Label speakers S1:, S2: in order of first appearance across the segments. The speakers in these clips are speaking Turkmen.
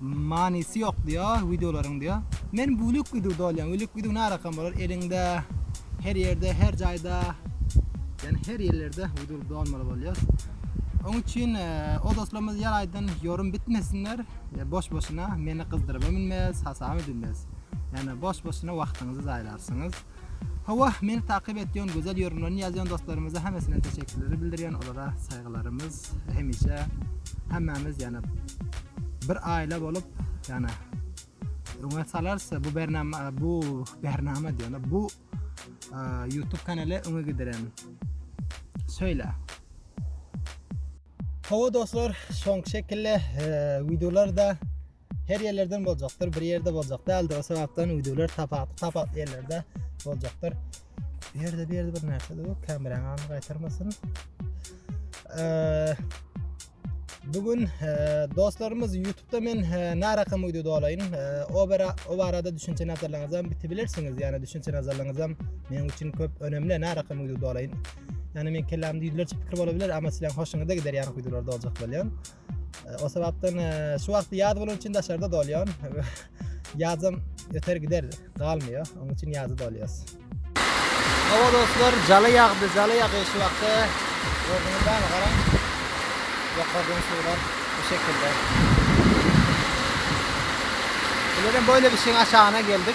S1: Manysy ýok diýo wideolaryň diýo. Men bülük wideo dolýan wülük wideo närakam bolar eliňde her ýerde her jaýda ýani her ýerlerde wideo dolmaly bolýar. Oň üçin o dostlarymyz ýar aýdan ýorym bitmesinler boş boşuna meni gyzdyrybam bilmez hasabam edilmez. Ýani boş boşuna wagtyňyzy zaýalarsyňyz. Howah meni takyp etýän gözel ýorumlaryny ýazýan dostlarymyza hemmesine teşekkürleri bildirýän olara saýgylarymyz hemişe hemmemiz ýana bir aýla bolup ýana öňe salarsa bu bernama bu bernama diýana bu YouTube kanaly öňe gidiren söýle Hawa dostlar şoň şekilli videolarda her ýerlerden boljakdyr, bir ýerde boljak däldir. O sebäpden widewler tapawutly tapawutly ýerlerde boljakdyr. Bu ýerde bir ýerde bir närsä dur, kamerany aňa gaýtarmasyn. Eee Bugün e, dostlarymyz YouTube'da men e, narakam video dolaýyn. E, o bara o barada düşünçe nazarlaryňyzy hem bitibilirsiniz. Ýani düşünçe nazarlaryňyzy hem meniň üçin köp önemli narakam video dolaýyn. Ýani men kellämde ýüzlerçe pikir bolabilir, amma sizleň hoşuňyza gider ýani videolarda boljak bolýan. O sebapdan e, şu wagt yaz bolan üçin daşarda dolýan. Yazam öter gider galmıyor. Onun için yazı dolýas. Hawa dostlar, jala ýagdy, jala ýagy şu wagtda. Gördüňiz bämi garaň. Ýokardan suwlar bu şekilde. Bilerim böyle bir şeyin aşağına geldik.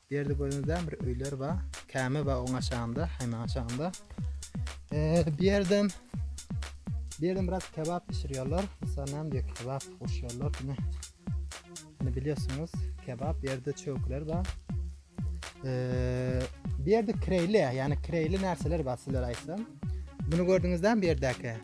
S1: Berdi görüňizden bir öýler ba. Käme ba oň aşagynda, haýmaň aşagynda. Eee, bu ýerden bu ýerden biraz kebap bişirýärler. Mysal näme diýip kebap goşýarlar diýme. Indi bilýärsiňiz, kebap bu ýerde çöwkler ba. Eee, bu ýerde kreýli, ýani kreýli närseler ba sizlere aýtsam. Bunu gördüňizden bu ýerdäki.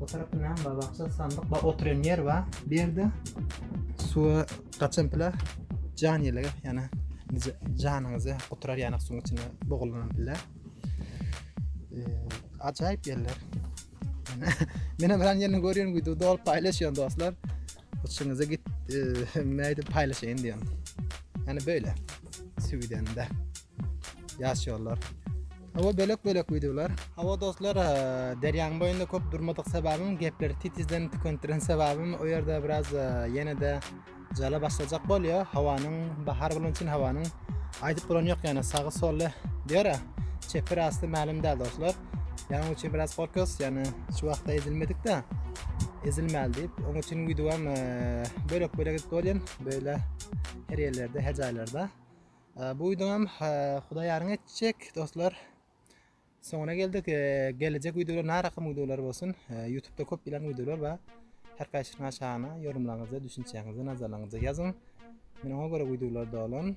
S1: Bu tarafta näme bar? Baksa sandyk bar, oturan ýer bar. Bu ýerde suwa gaçan pile jan ýelige, ýani janyňyzy guturar ýani suwuň içinde bogulan pile. Ajaýyp ýerler. Mene bilen ýerini görýän güýdü dolup paýlaşýan dostlar. Uçuňyza git, näde paylaşayım diýen. Yani böyle. Süwidende. Yaş yollar. Hava bölek bölek videolar. Hava dostlar, derýanyň boýunda köp durmadyk sebäbim, gepleri titizden tükendiren sebäbim, o ýerde biraz ýene de jala başlajak bolýar. Hawanyň bahar bolan üçin hawanyň aýdyp bolan ýok, ýani sagy solly diýär. Çepir asty mälim däl dostlar. Ýaňy üçin biraz fokus, ýani şu wagtda ezilmedik-de. Ezilmäli diýip, onuň üçin wideo hem bölek-bölek edip bolýan, böyle her ýerlerde, her jaýlarda. Bu wideo hem Hudaý ýaryn etjek dostlar. Soňuna geldik. Geljek wideolar nära rakam wideolar bolsun. YouTube-da köp bilen wideolar bar. Her kaçyna şana yorumlarınızı, düşüncenizi, nazarlarınızı yazın. Men ona göre videolar dolan.